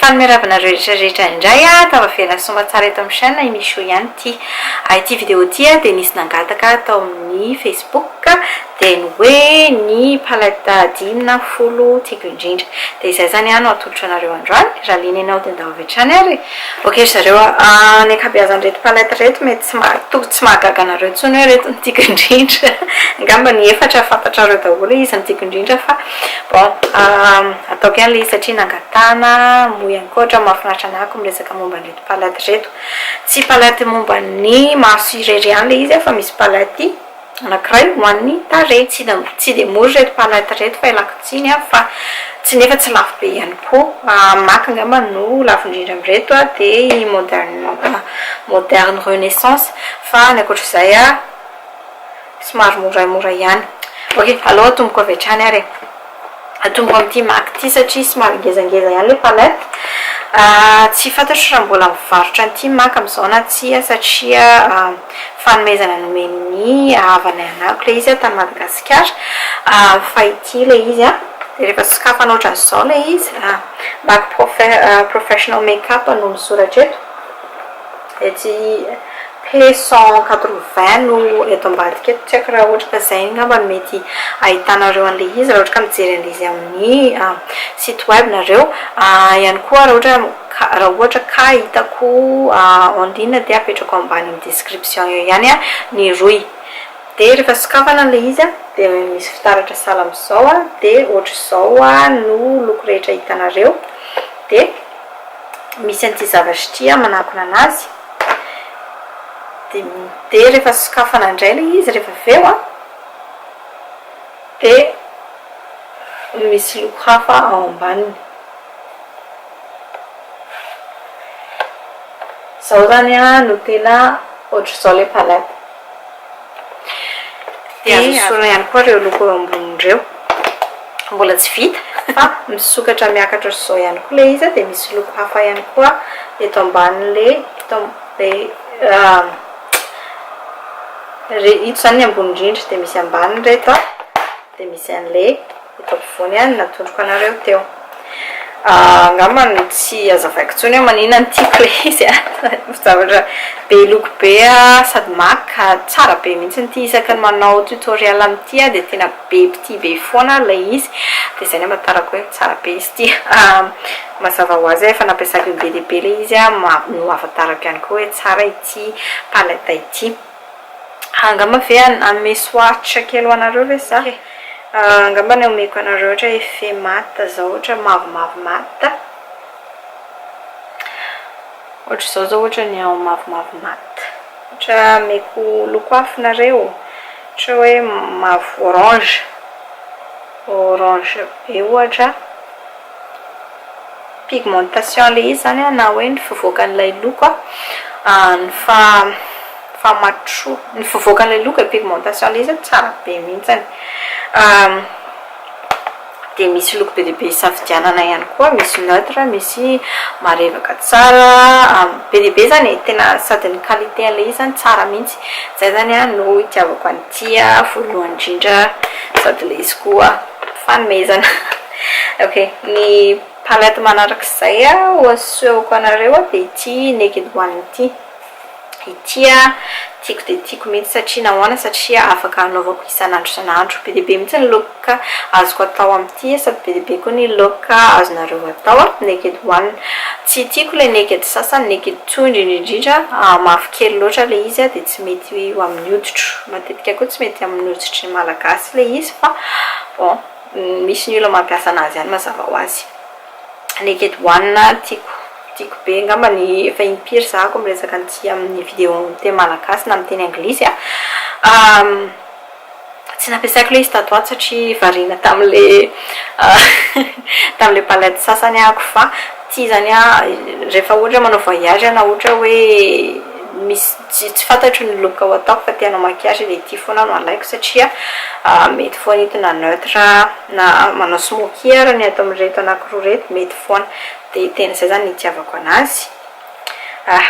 Fanome ravina anareo rehetra rehetra indray a, tavavelany somba tsara eto amin'ny chaîne i Michou ihany ity. Ity vidéo ity dia nisy nangataka tao amin'ny Facebook dia ny hoe ny palette dimy na folo tiako indrindra. Dia izay izany no atolotro anareo androany, raha liana ianao dia ndao avy hatrany ary e. Ok ry zareo a, ny ankabeazan'ireto palette ireto mety tsy maha, tokony tsy mahagaga anareo intsony hoe ireto no tiako indrindra, angamba ny efatra fantatrareo daholo hoe iza no tiako indrindra fa. Bon, ataoko ihany ilay izy satria nangatahana, moa ihany koa ohatran'ny mahafinaritra anah ko miresaka momba an'ireto palaty ireto. Tsy palaty momba ny maso irery ihany ilay izy fa misy palaty anankiray ho an'ny tarehy. Tsy dia mora ireto palaty ireto fa ialako tsiny an, fa tsy nefa tsy lafo be ihany koa. Mac angamba no lafo indrindra amin'ireto dia i modern modern renaissance fa ny ankoatr'izay an. Somary moramora ihany. Ok, aleo atomboko avy hatrany ary e. Atomboko amin'ity mac ity satria somary ngezangeza ihany ilay palette. Tsy fantatro raha mbola mivarotra an'ity mac amin'izao na tsia satria fanomezana nomen'ny havanay anako ilay izy tany Madagasikara. Fa ity ilay izy, dia rehefa sokafana ohatran'izao ilay izy, mac professional makeup no misoratra eto. Etsy p cent quatre vingt no eto ambadika eto, tsy haiko raha ohatra ka izay angamba no mety ahitanareo an'ilay izy raha ohatra ka mijery an'ilay izy amin'ny site web nareo. Ihany koa raha ohatra ka raha ohatra ka hitako en ligne dia apetrako ambany amin'ny description eo ihany ny rohy. Dia rehefa sokafana an'ilay izy dia misy fitaratra sahala amin'izao dia ohatr'izao no loko rehetra hitanareo dia. misy an'ity zavatra ity an, manakona anazy, dia rehefa sokafana indray ilay izy rehefa avy eo an, dia misy loko hafa ao ambaniny. Izao izany an no tena ohatr'izao ilay palette. Dia azo esorina ihany koa ireo loko eo amboniny ireo. Mbola tsy vita fa misokatra miakatra ohatr'izao ihany koa ilay izy dia misy loko hafa ihany koa eto ambanin'ilay eto ito izany ny ambony indrindra dia misy ambaniny ireto dia misy an'ilay Eto ampovoany ihany natondroko anareo teo. Angamba no tsy azavaiko intsony hoe manina ny tiako ilay izy a! Zavatra be loko be sady maka tsara be mihitsy ity. Isaky ny manao tutoriel amin'ity aho dia tena be mpitia be foana ilay izy. Dia izay no amantarako hoe tsara be izy ity. Mazava ho azy aho efa nampiasako indray be dia be ilay izy no ahafantarako ihany koa hoe tsara ity palette ity. Angamba ve hanome soaritra kely ho anareo ve za e? Angamba ny omeko anareo ohatra hoe effet mat zao ohatra mavomavo mat. Ohatra izao zao ohatra ny ao mavomavo mat. Ohatra ameko loko hafa nareo, ohatra hoe mavo orange, orange be ohatra. pigmentation ilay izy izany an, na hoe ny fivoakan'ilay loko an, ny faha-mature, ny fivoakan'ilay loko e, pigmentation ilay izy an, tsara be mihitsy, dia misy loko be dia be hisafidianana ihany koa, misy neutre, misy marevaka tsara, be dia be izany e, tena sady ny qualité an'ilay izy izany tsara mihitsy, izay izany an no itiavako an'ity voalohany indrindra, sady ilay izy koa fanomezana. Ok, ny palette manarak'izay ho asehoko anareo dia ity Naked One ity. Ity tiako dia tiako mihitsy satria nahoana? Satria afaka anaovako isan'andro isan'andro. Be dia be mihitsy ny look azoko atao amin'ity sady be dia be koa ny look azonareo atao Naked One. Tsy tiako ilay Naked sasany, Naked Two indrindra indrindra mafy kely loatra ilay izy dia tsy mety ho amin'ny hoditro. Matetika koa tsy mety amin'ny hoditry ny Malagasy ilay izy fa bon. Misy ny olona mampiasa anazy ihany mazava ho azy. Naked one tiako tiako be angamba ny efa impiry zahako miresaka an'ity amin'ny vidéo amin'ny teny malagasy na amin'ny teny anglisy a! tsy nampiasaiko ilay izy tato ato satria variana tamin'ilay tamin'ilay palette sasany ahako fa ity izany an rehefa ohatra manao voyage na ohatra hoe misy Tsy tsy fantatro ny look ho ataoko fa te hanao maquillage dia ity foana no alaiko satria mety foana entina neutre na manao smokey ary ny ato amin'ireto anankiroa ireto mety foana dia tena izay izany ny itiavako anazy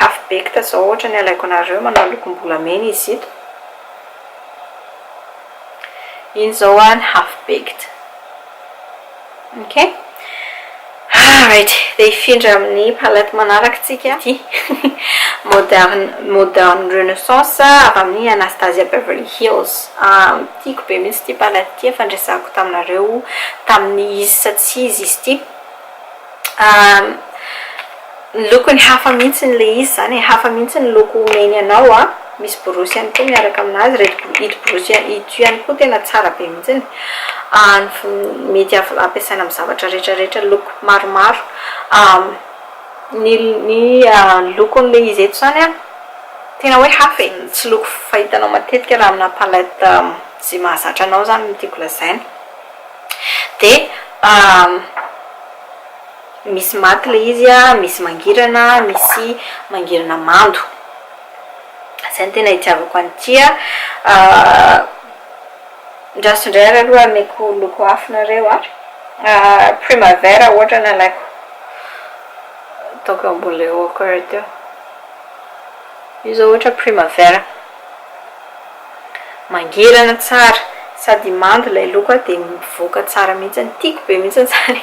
half baked izao ohatra ny alaiko anareo manao lokom-bolamena izy ito iny izao an half baked Ok ah right dia hifindra amin'ny palette manaraka tsika ity moderne moderne renaissance avy amin'ny Anastasia Beverly Hills tiako be mihitsy ity palette ity efa niresahako taminareo tamin'ny izy sa tsy izy izy ity Ny lokony hafa mihitsy ilay izy izany e, hafa mihitsy ny loko omeny anao an, misy borosy ihany koa miaraka amin'azy, ireto ito borosy ito ihany koa tena tsara be mihitsy, mety ampiasaina amin'ny zavatra rehetra rehetra, loko maromaro, ny ny lokon'ilay izy eto izany an, tena hoe hafa e, tsy loko fahitanao matetika raha amina palette izay mahazatra anao izany no tiako lazaina. Dia misy maty ilay izy, misy mangirana, misy mangirana mando. Izay no tena itiavako an'ity. Andraso indray ary aloha ameko loko hafa nareo an! Primavera ohatra nalaiko. Ataoko eo ambony ilay eau couleur teo. Io izao ohatra primavera. Mangirana tsara sady mando ilay loko a dia mivoaka tsara mihitsy, tiako be mihitsy izany,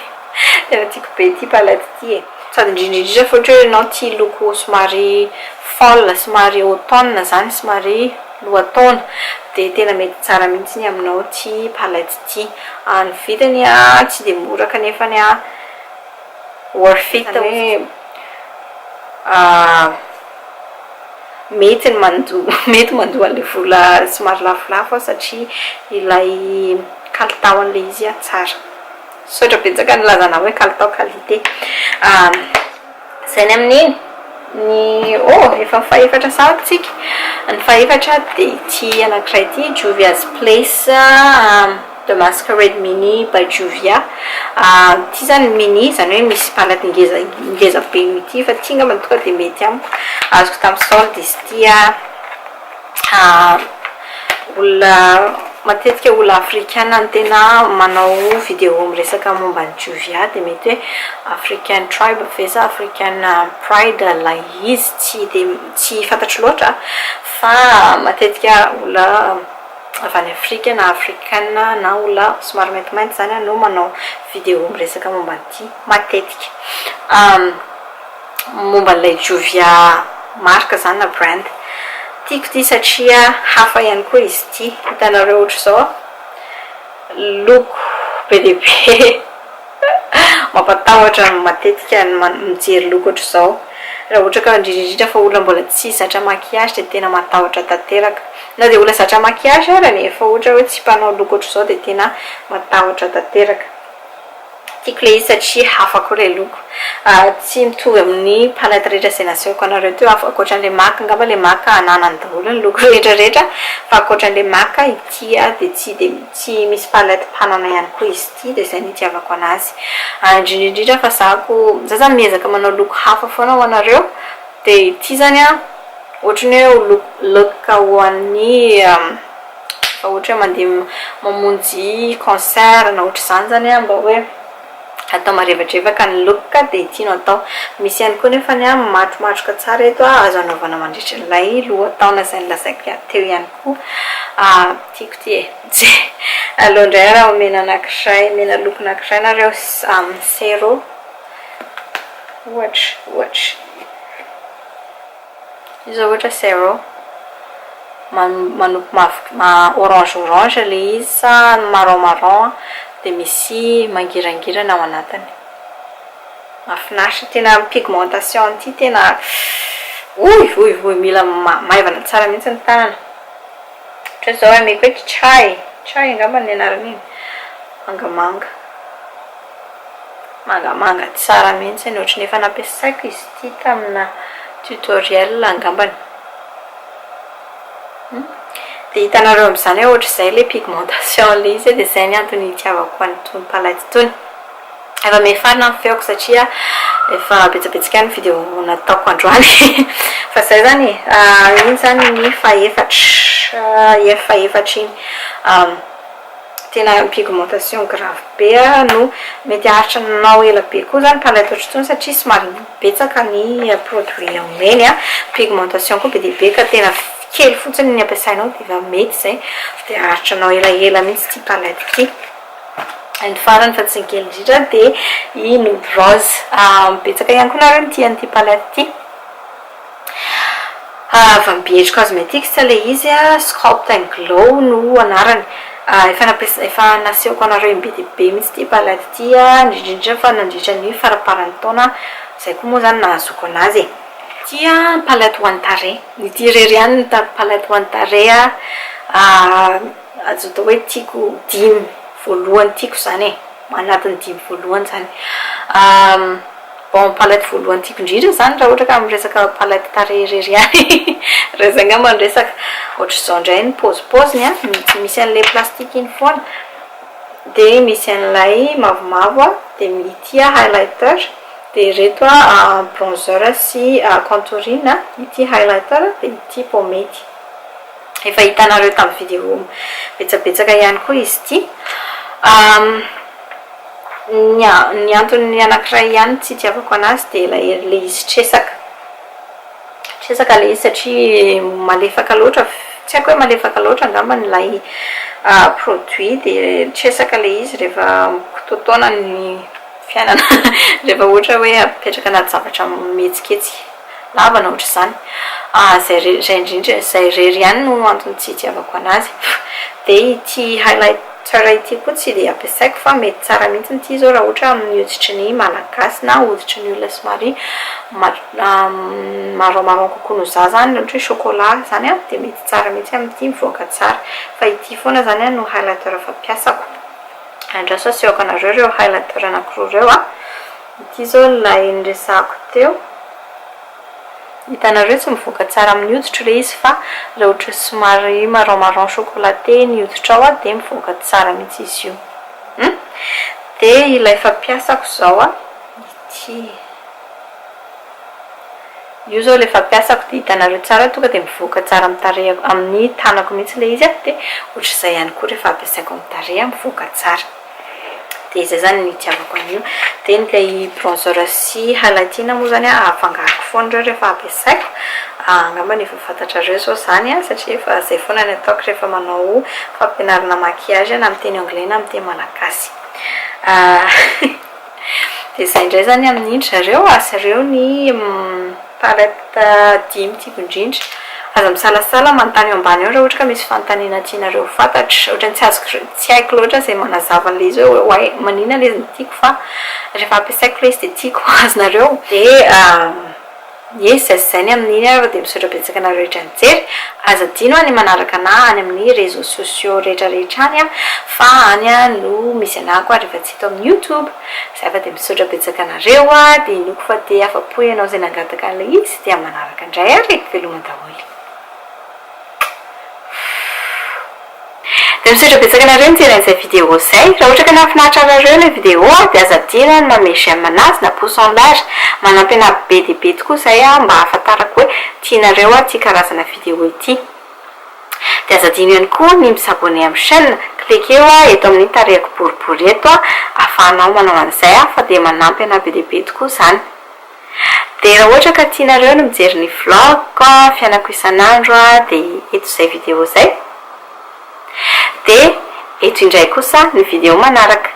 tena tiako be ity palette ity e, sady indrindra indrindra fa ohatra hoe ianao tia loko somary folle somary automne izany somary lohataona dia tena mety tsara mihitsy ny aminao ity palette ity, ny vidiny a tsy dia mora kanefany a. Worth it zany hoe mety ny manjo mety manjo an'ilay vola somary lafolafo aho satria ilay kalitaon'ilay izy an tsara. Misaotra betsaka nilaza anah hoe kalitao qualité. Izay ny amin'iny. Ny oh efa fahefatra sa tsika? Ny fahefatra dia ity anankiray ity Juvia's Place. The Masquerade Mini by Juvia, ity izany mini izany hoe misy mpanaty ngeza ngeza be ity fa ity angambany tonga dia mety amiko, azoko tamin'ny solde izy ity an, olona matetika olona afrikana no tena manao vidéo miresaka momba an'i Juvia dia mety hoe african tribe ve sa african pride ilay izy tsy dia tsy fantatro loatra fa matetika olona avy any Afrika na afrikana na olona somary maintimainty izany no manao vidéo miresaka momba an'ity matetika. Momba an'ilay Juvia marque izany na brand. Tiako ity satria hafa ihany koa izy ity. Hitanareo ohatr'izao loko be dia be. Mampatahotra matetika ny mijery loko ohatr'izao. Raha ohatra ka indrindra indrindra fa olona mbola tsy zatra maquillage dia tena matahotra tanteraka. Na dia olona zatra maquillage ary nefa ohatra hoe tsy mpanao loko ohatr'izao dia tena matahotra tanteraka. Tiako ilay izy satria hafa koa ilay loko. Tsy mitovy amin'ny palette rehetra izay nasehoko anareo teo aho. Ankoatran'ilay mac angamba ilay mac ananany daholo ny loko rehetra rehetra fa ankoatran'ilay mac ity dia tsy dia tsy misy palette mpanana ihany koa izy ity. Ity dia izay no itiavako anazy. Ary indrindra indrindra fa za ko, za zany miezaka manao look hafa foana ho anareo, dia ity zany an, ohatry ny hoe look look ho an'ny efa ohatry hoe mandeha mamonjy concert na ohatry izany zany an, mba hoe atao marevadrevaka ny look ka dia ity no atao. Misy ihany koa nefa ny an matromatroka tsara eto an, azo anaovana mandritra ilay lohataona izay nolazaiko teo ihany koa. Tiako ity e. Tsia! Aleo indray ary aho mena anankiray, mena loko anankiray nareo samy zero ohatra, ohatra. Io izao ohatra zero manopy mavo orange orange ilay izy sa marron marron dia misy mangirangirana ao anatiny. Mahafinaritra, tena ny pigmentation an'ity tena oivoivoy mila maivana tsara mihitsy ny tanana. Ohatra zao ameko hoe kichay, kichay angamba ny anaran'iny, mangamanga, mangamanga tsara mihitsiny, ohatry ny efa nampiasaiko izy ity tamina tutoriel angambany. Dia hitanareo amin'izany hoe ohatr'izay ilay pigmentation ilay izy dia izay ny antony hitiavako an'itony palette itony. Efa miafara ny feoko satria efa betsabetsaka ny video nataoko androany fa zay zany e! iny zany ny fahefatra ef fahefatra iny tena pigmentation grave be aho no mety haharitra anao ela be koa zany ka laitotro intsony satria somary betsaka ny produit omeny an! pigmentation koa be dia be ka tena kely fotsiny ny ampiasainao dia efa mety zay dia haharitra anao elaela mihitsy ity palette ity. And farany fa tsy ny kely indrindra dia i Nody Rose. Betsaka ihany koa nareo mitia an'ity palette ity. Avy amin'ny BH Cosmetics ilay izy, Sculpt and Glow no anarany. Efa nampiasa efa nasehoko anareo im-be dia be mihitsy ity palette ity, indrindra indrindra fa nandritra ny faramparan'ny taona, izay koa moa izany nahazoako an'azy e. Tia ny palette ho an'ny tarehy. Ity irery ihany no hitako palette ho an'ny tarehy an. Azo atao hoe tiako dimy voalohany tiako izany e, anatin'ny dimy voalohany izany. Bon, palette voalohany tiako indrindra izany raha ohatra ka miresaka palette tarehy irery ihany raha izay angamba no resaka. Ohatr'izao indray ny paozipaoziny an, misy an'ilay plastique iny foana, dia misy an'ilay mavomavo an, dia ity highlighter, dia ireto bronzer sy contouring, ity highlighter dia ity pomade. Efa hitanareo tamin'ny vidéo betsabetsaka ihany koa izy ity. Ny ny antony anankiray ihany tsy itiavako anazy dia ilay ilay izy tresaka. Tresaka ilay izy satria malefaka loatra, tsy haiko hoe malefaka loatra angamba ilay produit dia tresaka ilay izy rehefa mikototona ny fiainana, rehefa ohatra hoe apetraka anaty zavatra mihetsiketsika. Lavana ohatr'izany. Ah izay re, izay indrindra, izay irery ihany no antony tsy itiavako anazy. Dia ity highlighter ity koa tsy dia ampiasaiko fa mety tsara mihitsy ity izao raha ohatra amin'ny hoditry ny Malagasy na hoditry ny olona somary marron marron kokoa noho za izany, ohatra hoe chocolat izany an, dia mety tsara mihitsy amin'ity, mivoaka tsara. Fa ity foana izany no highlighter fampiasako. Andraso asehoko anareo ireo highlighter anankiroa ireo an. Ity izao ny lay niresahako teo. Hitanareo tsy mivoaka tsara amin'ny hoditro re izy fa raha ohatry somary marron marron chocolaté ny hoditrao a dia mivoaka tsara mihitsy izy io. Hum. Dia ilay fampiasako izao a, ity. Io izao ilay fampiasako dia hitanareo tsara tonga dia mivoaka tsara amin'ny tarehiko, amin'ny tanako mihitsy ilay izy a, dia ohatr'izay ihany koa rehefa ampiasaiko amin'ny tarehy a mivoaka tsara. dia izay zany ny itiavako an'io dia ilay bronzer sy highlighting moa zany an afangaroko foana ireo rehefa ampiasaiko angamba ny efa fantatrareo izao izany an satria efa izay foana ny ataoko rehefa manao fampianarana maquillage na amin'ny teny anglais na amin'ny teny malagasy Dia izay indray izany amin'in-dry zareo, azy ireo ny palette dimy tiako indrindra. Aza misalasala manontany eo ambany eo raha ohatra ka misy fanontaniana tianareo ho fantatra. Ohatran'ny tsy azoko re- tsy haiko loatra izay manazava an'ilay izy hoe why, maninona ilay izy no tiako fa rehefa ampiasaiko ilay izy dia tiako ho azonareo. Dia. Ye zay sy zay ny amin'iny ary dia misaotra betsaka anareo rehetra nijery, aza adino an ny manaraka anah any amin'ny réseaux sociaux rehetra rehetra any an fa any no misy anahako ary efa tsy eto amin'ny youtube, zay fa dia misaotra betsaka anareo an dia inoako fa te afapo ianao izay nangataka an'ilay izy dia manaraka indray ary e! veloma daholo. Dia misaotra betsaka anareo nijery an'izay vidéo izay. Raha ohatra ka nahafinaritra anareo ilay vidéo dia aza adino ny manome j'aime anazy na pouce en l'air. Manampy anà be dia be tokoa izay mba hahafantarako hoe tianareo ity karazana vidéo ity. Dia aza adino ihany koa ny mi s'abonner amin'ny chaîne. Klekeo eto amin'ny tarehiko boribory eto ahafahanao manao an'izay fa dia manampy anà be dia be tokoa izany. Dia raha ohatra ka tianareo ny mijery ny vlog-ko fiainako isan'andro dia eto izay video izay. Dia eto indray kosa ny video manaraka.